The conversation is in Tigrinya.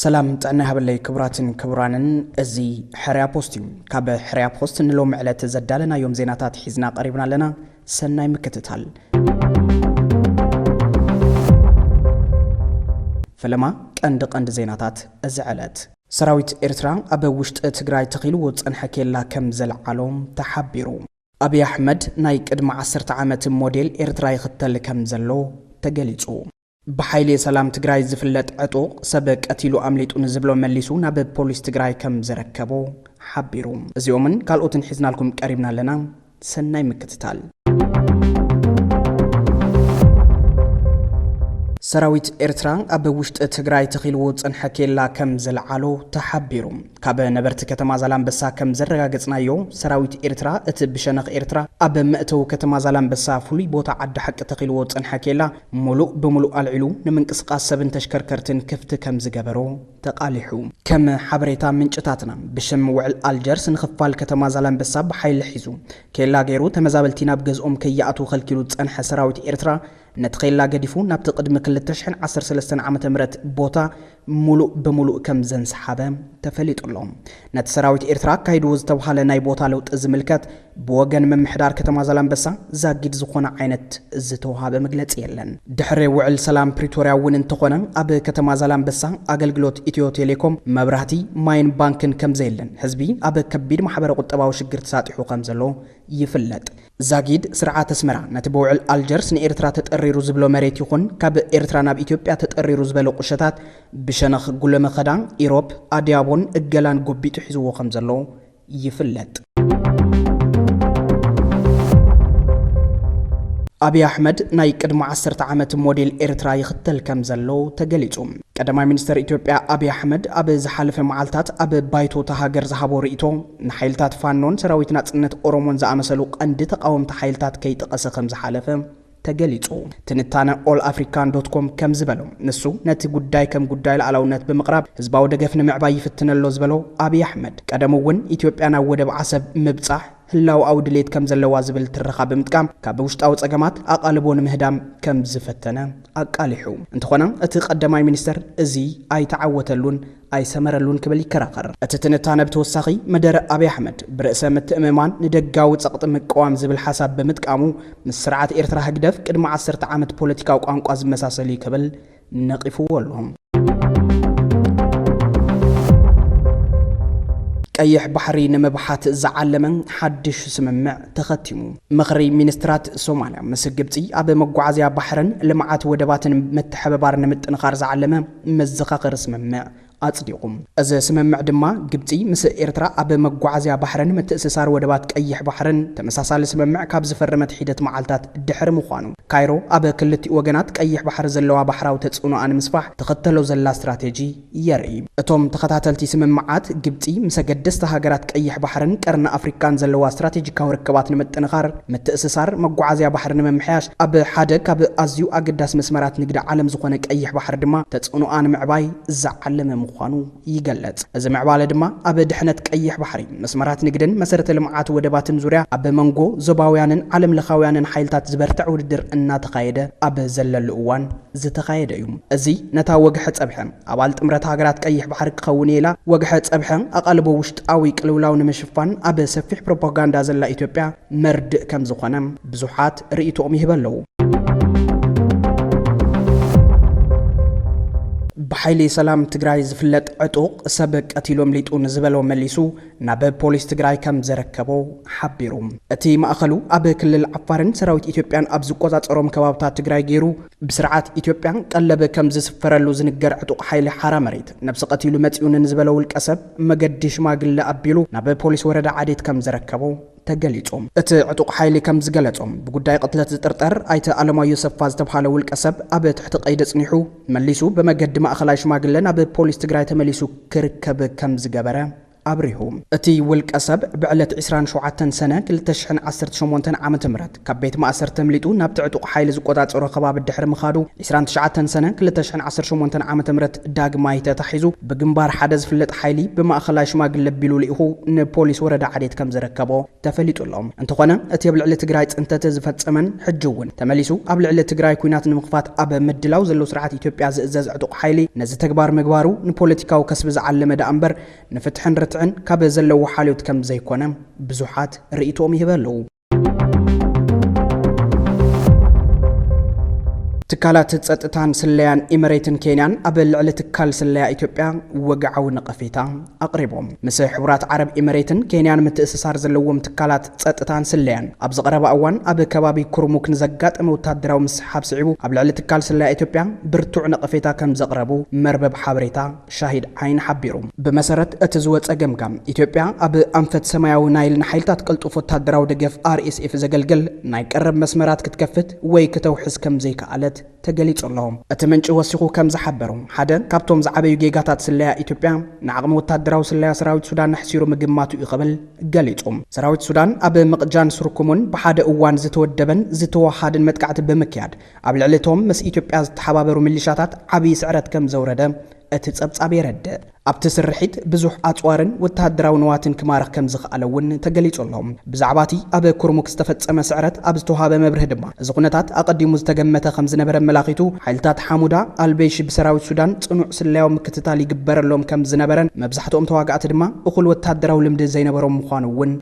ሰላም ጥዕና ይሃበለይ ክቡራትን ክቡራንን፣ እዚ ሕርያ ፖስት እዩ። ካብ ሕርያ ፖስት ንሎሚ ዕለት ዘዳለናዮም ዜናታት ሒዝና ቀሪብና ኣለና። ሰናይ ምክትታል። ፈለማ ቀንዲ ቀንዲ ዜናታት እዚ ዕለት ሰራዊት ኤርትራ ኣብ ውሽጢ ትግራይ ተኺልዎ ዝጸንሐ ኬላ ከም ዘልዓሎ ተሓቢሩ። ኣብይ ኣሕመድ ናይ ቅድሚ ዓሰርተ ዓመት ሞዴል ኤርትራ ይኽተል ከም ዘሎ ተገሊጹ። ብሓይሌ ሰላም ትግራይ ዝፍለጥ ዕጡቕ፣ ሰብ ቀቲሉ ኣምሊጡ ንዝብሎ መሊሱ ናብ ፖሊስ ትግራይ ከም ዘረከቦ ሓቢሩ። እዚኦምን ካልኦትን ሒዝናልኩም ቀሪብና ኣለና። ሰናይ ምክትታል። ሰራዊት ኤርትራ ኣብ ውሽጢ ትግራይ ተኺልዎ ዝጸንሐ ኬላ ከም ዘልዓሎ ተሓቢሩ። ካብ ነበርቲ ከተማ ዛላምበሳ ከም ዘረጋገጽናዮ ሰራዊት ኤርትራ እቲ ብሸነኽ ኤርትራ ኣብ መእተዊ ከተማ ዛላምበሳ ፍሉይ ቦታ ዓዲ ሓቂ ተኺልዎ ዝጸንሐ ኬላ ምሉእ ብምሉእ ኣልዒሉ ንምንቅስቓስ ሰብን ተሽከርከርትን ክፍቲ ከም ዝገበሮ ተቓሊሑ። ከም ሓበሬታ ምንጭታትና፣ ብሽም ውዕል ኣልጀርስ ንኽፋል ከተማ ዛላንበሳ ብሓይሊ ሒዙ ኬላ ገይሩ ተመዛበልቲ ናብ ገዝኦም ከይኣትዉ ከልኪሉ ዝጸንሐ ሰራዊት ኤርትራ፣ ነቲ ኼላ ገዲፉ ናብቲ ቅድሚ ክልተ ሽሕን ዓሰርተ ሰለስተን ዓመተ ምህረት ቦታ ምሉእ ብምሉእ ከም ዘንሰሓበ ተፈሊጡ ኣሎ። ነቲ ሰራዊት ኤርትራ ኣካይድዎ ዝተብሃለ ናይ ቦታ ለውጢ ዝምልከት፣ ብወገን ምምሕዳር ከተማ ዛላምበሳ ዛጊድ ዝኾነ ዓይነት ዝተውሃበ መግለፂ የለን። ድሕሪ ውዕል ሰላም ፕሪቶርያ እውን እንተኾነ ኣብ ከተማ ዛላምበሳ ኣገልግሎት ኢትዮ ቴሌኮም፣ መብራህቲ፣ ማይን ባንክን ከምዘየለን ህዝቢ ኣብ ከቢድ ማሕበረ ቁጠባዊ ሽግር ተሳጢሑ ከምዘሎ ይፍለጥ። ዛጊድ ስርዓት ኣስመራ ነቲ ብውዕል ኣልጀርስ ንኤርትራ ተጠሪሩ ዝብሎ መሬት ይኹን ካብ ኤርትራ ናብ ኢትዮጵያ ተጠሪሩ ዝበለ ቁሸታት ብሸነኽ ጉለመኸዳ፣ ኢሮብ፣ ኣድያቦን እገላን ጎቢጡ ሒዝዎ ከምዘሎ ይፍለጥ። ኣብይ ኣሕመድ ናይ ቅድሚ ዓሰርተ ዓመት ሞዴል ኤርትራ ይኽተል ከም ዘሎ ተገሊጹ። ቀዳማይ ሚኒስተር ኢትዮጵያ ኣብይ ኣሕመድ ኣብ ዝሓለፈ መዓልታት ኣብ ባይቶ እታ ሃገር ዝሃቦ ርእይቶ ንሓይልታት ፋኖን ሰራዊት ናጽነት ኦሮሞን ዝኣመሰሉ ቀንዲ ተቓወምቲ ሓይልታት ከይጠቐሰ ከም ዝሓለፈ ተገሊጹ። ትንታነ ኦል ኣፍሪካን ዶት ኮም ከም ዝበሎ፣ ንሱ ነቲ ጉዳይ ከም ጉዳይ ልኣላውነት ብምቕራብ ህዝባዊ ደገፍ ንምዕባይ ይፍትን ኣሎ ዝበሎ ኣብይ ኣሕመድ፣ ቀደሙ እውን ኢትዮጵያ ናብ ወደብ ዓሰብ ምብጻሕ ህላወኣዊ ድሌት ከም ዘለዋ ዝብል ትረኻ ብምጥቃም ካብ ውሽጣዊ ጸገማት ኣቓልቦ ንምህዳም ከም ዝፈተነ ኣቃሊሑ። እንተኾነ እቲ ቀዳማይ ሚኒስተር እዚ ኣይተዓወተሉን ኣይሰመረሉን ክብል ይከራኸር። እቲ ትንታነ ብተወሳኺ መደረ ኣብይ ኣሕመድ ብርእሰ ምትእምማን ንደጋዊ ጸቕጢ ምቅዋም ዝብል ሓሳብ ብምጥቃሙ ምስ ስርዓት ኤርትራ ህግደፍ ቅድሚ ዓሰርተ ዓመት ፖለቲካዊ ቋንቋ ዝመሳሰል'ዩ ክብል ነቒፍዎ ኣሎ። ቀይሕ ባሕሪ ንምብሓት ዝዓለመ ሓድሽ ስምምዕ ተኸቲሙ። ምኽሪ ሚኒስትራት ሶማልያ ምስ ግብጺ ኣብ መጓዓዝያ ባሕርን ልምዓት ወደባትን ምትሕብባር ንምጥንኻር ዝዓለመ መዘኻኸሪ ስምምዕ ኣጽዲቑ። እዚ ስምምዕ ድማ ግብጺ ምስ ኤርትራ ኣብ መጓዓዝያ ባሕርን ምትእስሳር ወደባት ቀይሕ ባሕርን ተመሳሳሊ ስምምዕ ካብ ዝፈረመት ሒደት መዓልታት ድሕሪ ምዃኑ፣ ካይሮ ኣብ ክልቲኡ ወገናት ቀይሕ ባሕሪ ዘለዋ ባሕራዊ ተጽዕኖኣ ንምስፋሕ ትኽተሎ ዘላ ስትራቴጂ የርኢ። እቶም ተኸታተልቲ ስምምዓት፣ ግብጺ ምስ ኣገደስቲ ሃገራት ቀይሕ ባሕርን ቀርኒ ኣፍሪቃን ዘለዋ ስትራቴጂካዊ ርክባት ንምጥንኻር፣ ምትእስሳር መጓዓዝያ ባሕሪ ንምምሕያሽ፣ ኣብ ሓደ ካብ ኣዝዩ ኣገዳሲ መስመራት ንግዲ ዓለም ዝኾነ ቀይሕ ባሕሪ ድማ ተጽዕኖኣ ንምዕባይ ዝዓለመ ምዃኑ ይገለጽ። እዚ ምዕባለ ድማ ኣብ ድሕነት ቀይሕ ባሕሪ፣ መስመራት ንግድን መሰረተ ልምዓት ወደባትን ዙርያ ኣብ መንጎ ዞባውያንን ዓለም ለኻውያንን ሓይልታት ዝበርትዕ ውድድር እናተኻየደ ኣብ ዘለሉ እዋን ዝተኻየደ እዩ። እዚ ነታ ወግሐ ጸብሐ። ኣባል ጥምረት ሃገራት ቀይሕ ባሕሪ ክኸውን እየ ኢላ ወግሐ ጸብሐ ኣቓልቦ ውሽጣዊ ቅልውላው ንምሽፋን ኣብ ሰፊሕ ፕሮፓጋንዳ ዘላ ኢትዮጵያ መርድእ ከም ዝኾነ ብዙሓት ርእይቶኦም ይህበ ኣለዉ። ብሓይሊ ሰላም ትግራይ ዝፍለጥ ዕጡቕ፣ ሰብ ቀቲሉ ኣምሊጡ ንዝበሎ መሊሱ ናብ ፖሊስ ትግራይ ከም ዘረከቦ ሓቢሩ። እቲ ማእኸሉ ኣብ ክልል ዓፋርን ሰራዊት ኢትዮጵያን ኣብ ዝቆፃፀሮም ከባብታት ትግራይ ገይሩ ብስርዓት ኢትዮጵያ ቀለብ ከም ዝስፈረሉ ዝንገር ዕጡቕ ሓይሊ ሓራ መሬት ነብሲ ቀቲሉ መፂኡኒ ንዝበለ ውልቀ ሰብ መገዲ ሽማግለ ኣቢሉ ናብ ፖሊስ ወረዳ ዓዴት ከም ዘረከቦ ተገሊፁ። እቲ ዕጡቕ ሓይሊ ከምዝገለፆ፣ ብጉዳይ ቕትለት ዝጥርጠር ኣይተ ኣለማዮ ሰፋ ዝተብሃለ ውልቀ ሰብ ኣብ ትሕቲ ቐይዲ ኣፅኒሑ መሊሱ ብመገዲ ማእኸላይ ሽማግለ ናብ ፖሊስ ትግራይ ተመሊሱ ክርከብ ከምዝገበረ ኣብሪሁ። እቲ ውልቀ ሰብ ብዕለት ዕስራን ሸውዓተን ሰነ ክልተ ሽሕን ዓሰርተ ሸሞንተን ዓመተ ምህረት፣ ካብ ቤት ማእሰርቲ ኣምሊጡ ናብቲ ዕጡቕ ሓይሊ ዝቆጻጸሮ ከባቢ ድሕሪ ምኻዱ፣ ዕስራን ትሽዓተን ሰነ ክልተ ሽሕን ዓሰርተ ሸሞንተን ዓመተ ምህረት ዳግማይ ተታሒዙ ብግንባር ሓደ ዝፍለጥ ሓይሊ ብማእኸላይ ሽማግለ ኣቢሉ ልኢኹ ንፖሊስ ወረዳ ዓዴት ከም ዘረከቦ ተፈሊጡ ኣሎ። እንተኾነ እቲ ኣብ ልዕሊ ትግራይ ፅንተት ዝፈፀመን ሕጂ እውን ተመሊሱ ኣብ ልዕሊ ትግራይ ኲናት ንምኽፋት ኣብ ምድላው ዘሎ ስርዓት ኢትዮጵያ ዝእዘዝ ዕጡቕ ሓይሊ ነዚ ተግባር ምግባሩ ንፖለቲካዊ ከስቢ ዝዓለመ ደኣ እምበር ንፍትሕን ርትዕን ካብ ዘለዎ ሓልዮት ከም ዘይኮነ ብዙሓት ርእይትኦም ይህበ ኣለዉ። ትካላት ጸጥታን ስለያን ኢመሬትን ኬንያን ኣብ ልዕሊ ትካል ስለያ ኢትዮጵያ ወግዓዊ ነቐፌታ ኣቕሪቦም። ምስ ሕቡራት ዓረብ ኢመሬትን ኬንያን ምትእስሳር ዘለዎም ትካላት ጸጥታን ስለያን ኣብዚ ቀረባ እዋን ኣብ ከባቢ ኩርሙክ ንዘጋጠመ ወታደራዊ ምስሓብ ስዒቡ ኣብ ልዕሊ ትካል ስለያ ኢትዮጵያ ብርቱዕ ነቐፌታ ከም ዘቕረቡ መርበብ ሓበሬታ ሻሂድ ዓይን ሓቢሩ። ብመሰረት እቲ ዝወጸ ገምጋም፣ ኢትዮጵያ ኣብ ኣንፈት ሰማያዊ ናይል ንሓይልታት ቅልጡፍ ወተሃደራዊ ደገፍ፣ RSF፣ ዘገልግል ናይ ቀረብ መስመራት ክትከፍት ወይ ክተውሕስ ከም ዘይከኣለት ተገሊጹ ኣሎ። እቲ ምንጪ ወሲኹ ከም ዝሓበሮ፣ ሓደ ካብቶም ዝዓበዩ ጌጋታት ስለያ ኢትዮጵያ፣ ንዓቕሚ ወተሃደራዊ ስለያ ሰራዊት ሱዳን ኣሕሲሩ ምግማቱ'ዩ ክብል ገሊጹ። ሰራዊት ሱዳን ኣብ ምቕጃን ስርኩሙን ብሓደ እዋን ዝተወደበን ዝተወሃሃድን መጥቃዕቲ ብምክያድ፣ ኣብ ልዕሊ እቶም ምስ ኢትዮጵያ ዝተሓባበሩ ሚሊሻታት ዓብዪ ስዕረት ከም ዘውረደ እቲ ጸብጻብ የረድእ። ኣብቲ ስርሒት ብዙሕ ኣጽዋርን ወተሃደራዊ ንዋትን ክማርኽ ከም ዝኸኣለ እውን ተገሊጹ ኣሎ። ብዛዕባ እቲ ኣብ ኩርሙክ ዝተፈጸመ ስዕረት ኣብ ዝተውሃበ መብርሂ ድማ፣ እዚ ኵነታት ኣቐዲሙ ዝተገመተ ከም ዝነበረ ኣመላኺቱ፣ ሓይልታት ሓሙዳ ኣልበይሺ ብሰራዊት ሱዳን ጽኑዕ ስለያዊ ምክትታል ይግበረሎም ከም ዝነበረን መብዛሕትኦም ተዋጋእቲ ድማ እኹል ወተሃደራዊ ልምዲ ዘይነበሮም ምዃኑ እውን